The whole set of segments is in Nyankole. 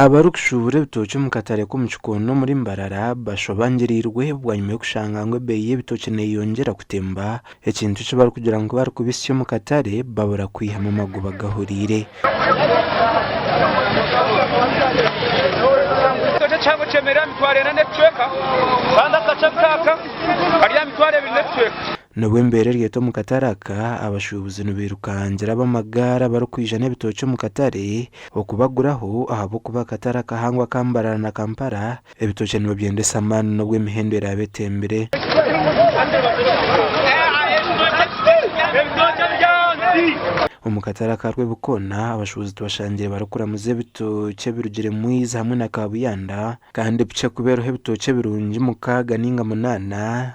Abarikushuubura ebitookye omu katare k'omu kikondo omuri Mbarara bashobangiriirwe bwanyima y'okushanga ngu ebeeyi y'ebitookye neeyongyera kutemba, ekintu eki barikugira ngu ku barikubitsya omu katare babura kwihamu amagoba gahuriire. Ekitookye ekihango kyemerire aha mitwaro ena n'ebicweka kandi akakye nkaaka kari aha mitwaro ebiri n'ebicweka. Nibwo embeera eri eti omu katare aka, abashuubuzi nibairukangira ab'amagaari abarikwija n'ebitookye omu katare okubaguraho ahabw'okuba akatare akahango aka Mbarara na Kampala ebitookye nibabyendesa amaani n'obu emihendo eraabe etembire. Omu katare aka Rwebikoona, abashuubuzi tubashangiire barikuramuza ebitookye ebirugire Mwiizi hamwe na Kaabuyanda kandi bukye kubeeraho ebitookye ebirungi mukaaga nainga munaana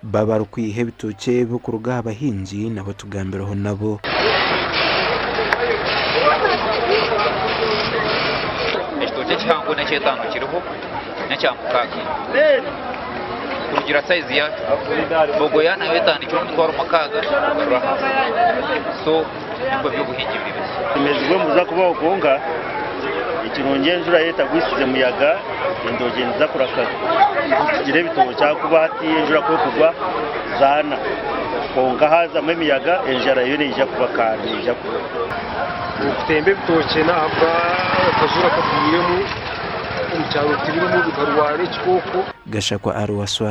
Baaba barikwiha ebitookye ebi okuruga aha bahingi nabo tugambireho nabo. Ekitookye ekihango n'eky'etaano kiriho n'ekya mukaaga kurugira saizi yaakyo. Bogoya nayo etandikire omutwaro mukaaga kugarura ahansi. nibwo by'obuhingi buri buzima. Omwezi gw'embuza kubaho kwonka ekirungi enjura etagwisize muyaga endoogye niziza kuraka zigire ebitookye ahakuba hati enjura ku ekugwa zaana kwonka haazamu emiyaga enjara yo neija kuba kandi neija kubura. Okutemba ebitookye n'ahabwa akazuura kagwiremu omu kyaro tibirimu bikarwara ekikooko. Gashakwa Aruwaswa.